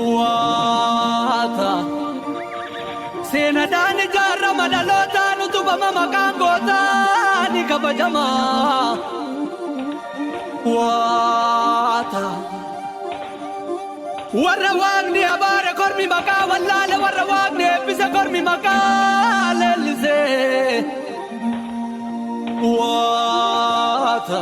Waata seenadhaan ijaarama dhalootaan utubama maqaan gootaa ni kabajama. Waata warra waaqni abaare kormi maqaa wallaale warra waaqni eebbise kormi maqaa leellise. Waata.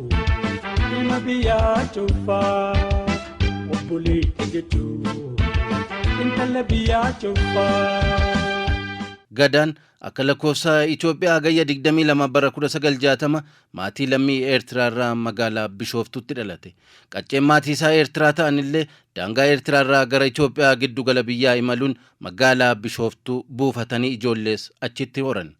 Ilma biyyaa cuffaa obboleetti jechuun intala biyyaa cuffaa. Gadaan akka lakkoofsa Itoophiyaa hagayya 22 bara 1960 maatii lammii Eertiraa irraa magaalaa Bishooftuutti dhalate. Qacceen maatii isaa Eertiraa ta'an illee daangaa Eertiraa irraa gara Itoophiyaa giddu gala biyyaa imaluun Magaalaa Bishooftuu buufatanii ijoollees achitti horan.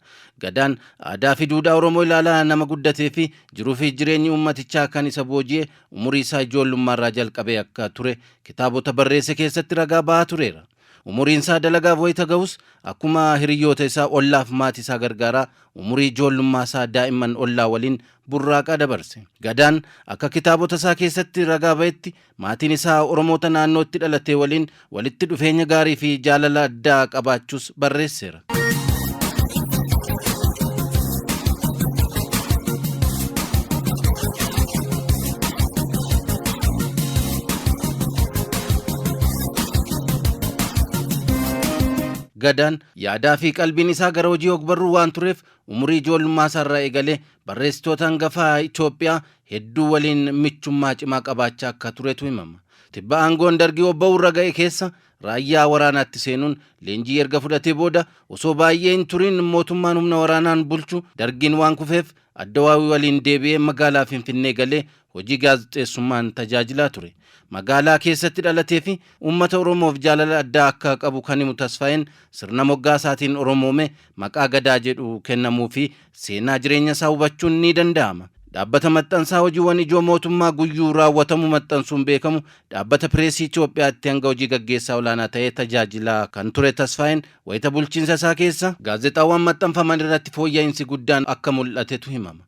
Gadaan aadaafi duudhaa Oromoo ilaalaa nama guddateefi jiruufi jireenyi uummatichaa kan isa booji'e umuriisaa ijoollummaarraa jalqabee akka ture kitaabota barreesse keessatti ragaa bahaa tureera. Umuriinsaa dalagaaf wayita gahus akkuma hiriyyoota isaa ollaaf maatiisaa gargaaraa umurii ijoollummaasaa daa'imman ollaa waliin burraaqaa dabarse. Gadaan akka kitaabotasaa keessatti ragaa bahetti Maatiin isaa Oromoota naannoo itti dhalatee waliin walitti dhufeenya gaarii fi jaalala addaa qabaachuus barreesseera. Gadaan yaadaa fi qalbiin isaa gara hojii ogbarruu waan tureef umurii ijoollummaa isaarraa eegalee barreessitoota hangafaa Itoophiyaa hedduu waliin michummaa cimaa qabaachaa akka turetu himama. Tibba aangoon Dargii obba'uu irra ga'e keessa raayyaa waraanaatti seenuun leenjii erga fudhatee booda osoo baay'ee hin turiin mootummaan humna waraanaan bulchu Dargiin waan kufeef Addawaawii waliin deebi'ee magaalaa Finfinnee galee hojii gaazexeessummaan tajaajilaa ture. Magaalaa keessatti dhalatee fi uummata Oromoof jaalala addaa akka qabu kan himu Tasfaayeen sirna moggaasaatiin Oromoome maqaa Gadaa jedhu kennamuufi seenaa jireenyasaa hubachuun ni danda'ama. Dhaabbata maxxansaa hojiiwwan ijoo mootummaa guyyuu raawwatamu maxxansuun beekamu Dhaabbata Pireesii Itoophiyaatti hanga hojii gaggeessaa olaanaa ta'ee tajaajilaa kan ture Tasfaayeen wayita bulchiinsa isaa keessa gaazexaawwan maxxanfaman irratti fooyya'insi guddaan akka mul'atetu himama.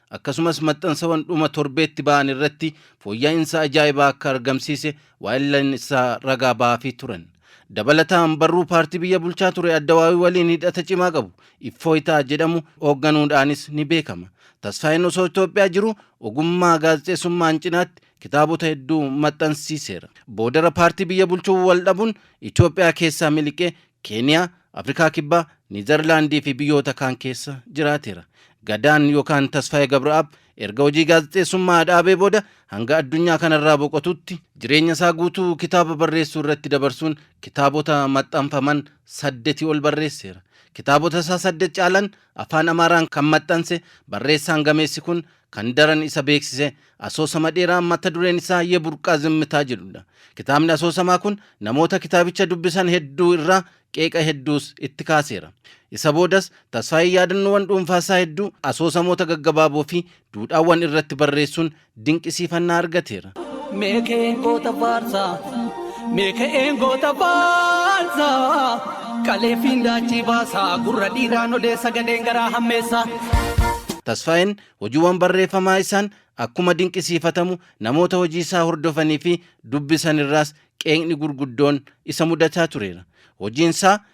Akkasumas maxxansawan dhuma torbeetti ba'an irratti fooyya'insa ajaa'ibaa akka argamsiise waahillan isaa ragaa ba'aafii turan. Dabalataan barruu paartii biyya bulchaa ture Addawaawii waliin hidhata cimaa qabu Iffooyitaa jedhamu hoogganuudhaanis ni beekama. Tasfaayeen osoo Itoophiyaa jiruu ogummaa gaazexeessummaan cinaatti kitaabota hedduu maxxansiiseera. Boodara paartii biyya bulchuu wal dhabuun Itoophiyaa keessaa miliqee Keeniyaa, Afrikaa Kibbaa, Niizarlaandii fi biyyoota kaan keessa jiraateera. Gadaan yookaan Tasfaayee Gabra'aab erga hojii gaazexeessummaa dhaabee booda hanga addunyaa kanarraa boqotuutti jireenyasaa guutuu kitaaba barreessuu irratti dabarsuun kitaabota maxxanfaman saddetii ol barreesseera. Kitaabotasaa saddet caalan Afaan Amaaraan kan maxxanse barreessaan gameessi kun Kan daran isa beeksise asoosama dheeraa mata dureen isaa Ye Burqaa Zimmitaa jedhudha. Kitaabni asoosamaa kun namoota kitaabicha dubbisan hedduu irraa qeeqa hedduus itti kaaseera. Isa boodas Tasfaayee yaadannoowwan dhuunfaa isaa hedduu asoosamoota gaggabaaboo fi duudhaawwan irratti barreessuun dinqisiifannaa argateera. Mee ka'een goota faarsaa mee ka'een goota faarsaa qaleefiin daachii baasaa gurra dhiiraan odeessa gadheen garaa hammeessaa. Tasfaayeen hojiiwwan barreeffamaa isaan akkuma dinqisiifatamu namoota hojii isaa hordofanii fi dubbisan irraas qeeqni gurguddoon isa mudataa tureera. Hojiin isaa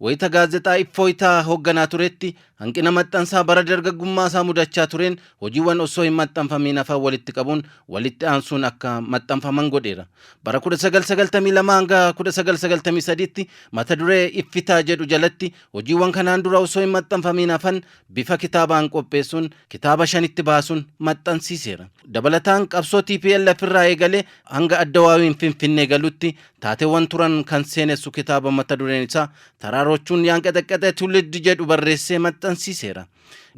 Wayita Gaazexaa Iffooytaa hogganaa turetti hanqina maxxansaa bara dargaggummaasaa mudachaa tureen hojiiwwan osoo hin maxxanfamiin hafan walitti qabuun walitti aansuun akka maxxanfaman godheera. Bara 1992-1993tti mata duree Iffitaa jedhu jalatti hojiiwwan kanaan dura osoo hin maxxanfamiin hafan bifa kitaabaan qopheessuun kitaaba shanitti baasuun maxxansiiseera. Dabalataan qabsoo tplf irraa eegalee hanga Addawaawiin Finfinnee galutti Taateewwan turan kan seenessu kitaaba mata dureen isaa Taraarochuun Yaanqexeqqexee Tuuliddi jedhu barreessee maxxansiiseera.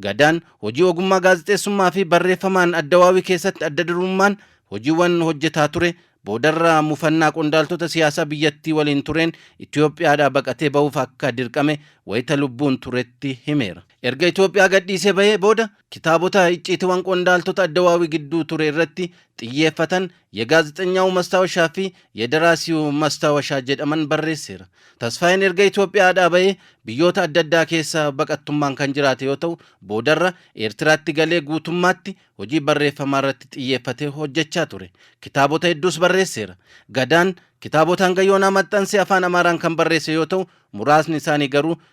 Gadaan hojii ogummaa gaazexeessummaa fi barreeffamaan Addawaawii keessatti adda durummaan hojiiwwan hojjetaa ture boodarra mufannaa qondaaltota siyaasaa biyyattii waliin tureen Itoophiyaadhaa baqatee bahuuf akka dirqame wayita lubbuun turetti himeera. Erga Itoophiyaa gadhiisee bahee booda kitaabota icciitiwan qondaaltota Addawaawii gidduu ture irratti xiyyeeffatan Yegaazexenyaawu Mastaawashaa fi Yedaraasiwu Mastaawashaa jedhaman barreesseera. Tasfaayeen erga Itoophiyaadhaa ba'ee biyyoota adda addaa keessa baqattummaan kan jiraate yoo ta'u, boodarra Eertiraatti galee guutummaatti hojii barreeffamaarratti xiyyeeffatee hojjechaa ture. Kitaabota hedduus barreesseera. Gadaan kitaabota hanga yoonaa maxxanse Afaan Amaaraan kan barreesse yoo ta'u, muraasni isaanii garuu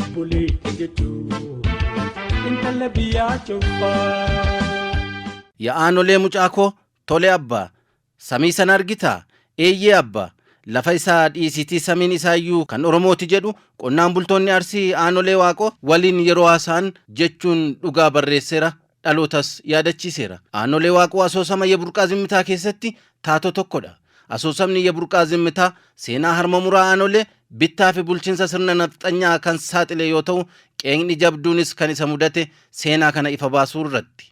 obboleetti jechuun intala biyyaa cubbaa. Yaa aanolee mucaa koo tole abba samii sana argitaa eeyyee abba lafa isaa dhiisiitii samiin isaayyuu kan oromooti jedhu qonnaan bultoonni arsii aanolee waaqoo waliin yeroo haasa'an jechuun dhugaa barreesseera dhalootas yaadachiiseera. Aanolee Waaqoo asoosama Yeburqaa Zimmitaa keessatti taatoo tokkodha. Asoosamni Yeburqaa Zimmitaa seenaa harma muraa aanolee, bittaafi bulchinsa sirna nafxanyaa kan saaxile yoo ta'u, qeeqni jabduunis kan isa mudate seenaa kana ifa baasuu irratti.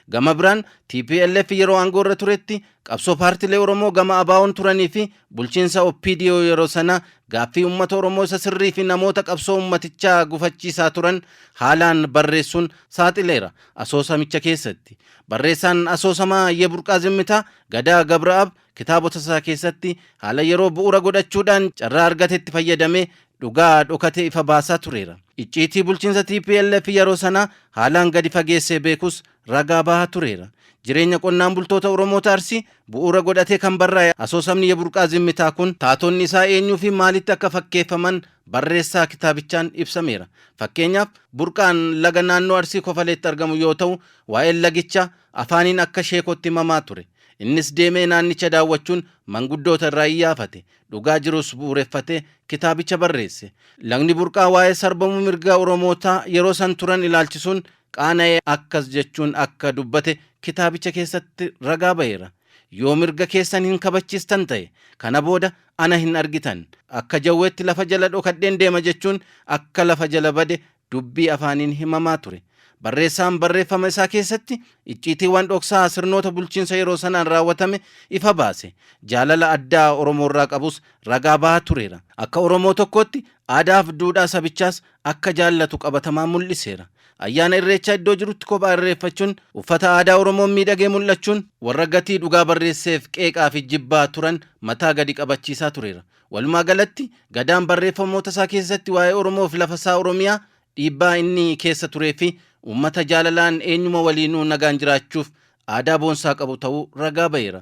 Gama biraan, tplf yeroo aangoorra turetti Qabsoo paartilee Oromoo gama ABOn turanii fi bulchiinsa OPDO yeroo sanaa gaaffii uummata Oromoo isa sirrii fi namoota qabsoo uummatichaa gufachiisaa turan haalaan barreessuun saaxileera. Asoosamicha keessatti. Barreessaan asoosamaa Ye Burqaa Zimmitaa, Gadaa Gabra'ab, kitaabota isaa keessatti haala yeroo bu'uura godhachuudhaan carraa argatetti fayyadamee dhugaa dhokate ifa baasaa tureera. Icciitii bulchiinsa tplf yeroo sanaa haalaan gadi fageessee beekus ragaa bahaa tureera. Jireenya qonnaan bultoota Oromoota Arsii bu'uura godhatee kan barraa'e asoosamni Yeburqaa Zimmitaa kun taatonni isaa eenyuufi maalitti akka fakkeeffaman barreessaa kitaabichaan ibsameera. Fakkeenyaaf, burqaan laga naannoo Arsii Kofaleetti argamu yoo ta'u, waa'een lagichaa afaaniin akka sheekootti himamaa ture. Innis deemee naannicha daawwachuun manguddoota irraa iyyaafate. Dhugaa jirus bu'uureffatee kitaabicha barreesse. Lagni Burqaa waa'ee sarbamuu mirgaa Oromootaa yeroo san turan ilaalchisuun qaana'ee akkas jechuun akka dubbate kitaabicha keessatti ragaa ba'eera, Yoo mirga keessan hin kabachiistan ta'e, kana booda ana hin argitan. Akka jawweetti lafa jala dhokadheen deema jechuun akka lafa jala bade dubbii afaaniin himamaa ture. Barreessaan barreeffama isaa keessatti icciitiiwwan dhoksaa sirnoota bulchiinsa yeroo sanaan raawwatame ifa baase. Jaalala addaa Oromoorraa qabus ragaa ba'aa tureera. Akka Oromoo tokkootti aadaaf duudhaa sabichaas akka jaallatu qabatamaan mul'iseera. Ayyaana Irreechaa iddoo jirutti kophaa irreeffachuun, uffata aadaa Oromoon miidhagee mul'achuun warra gatii dhugaa barreesseef qeeqaafi jibbaa turan mataa gadi qabachiisaa tureera. Walumaa galatti, Gadaan barreeffamootasaa keessatti waa'ee Oromoofi lafasaa Oromiyaa, dhiibbaa inni keessa tureefi uummata jaalalaan eenyuma waliinuu nagaan jiraachuuf aadaa boonsaa qabu ta'uu ragaa ba'eera.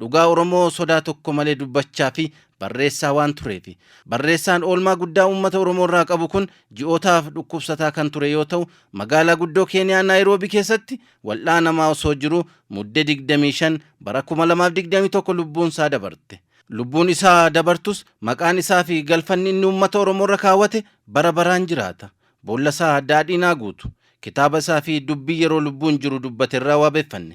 Dhugaa Oromoo sodaa tokko malee dubbachaa fi barreessaa waan tureefi. Barreessaan oolmaa guddaa uummata Oromoorraa qabu kun ji'ootaaf dhukkubsataa kan ture yoo ta'u, magaalaa guddoo Keeniyaa Naayiroobii keessatti wal'aanamaa osoo jiruu Mudde 25 bara 2021 lubbuunsaa dabarte. Lubbuun isaa dabartus maqaan isaafi galfanni inni uummata Oromoorra kaawwate bara baraan jiraata. Boollasaa daadhiin haa guutu. Kitaaba isaafi dubbii yeroo lubbuun jiru dubbaterraa waabeffanne.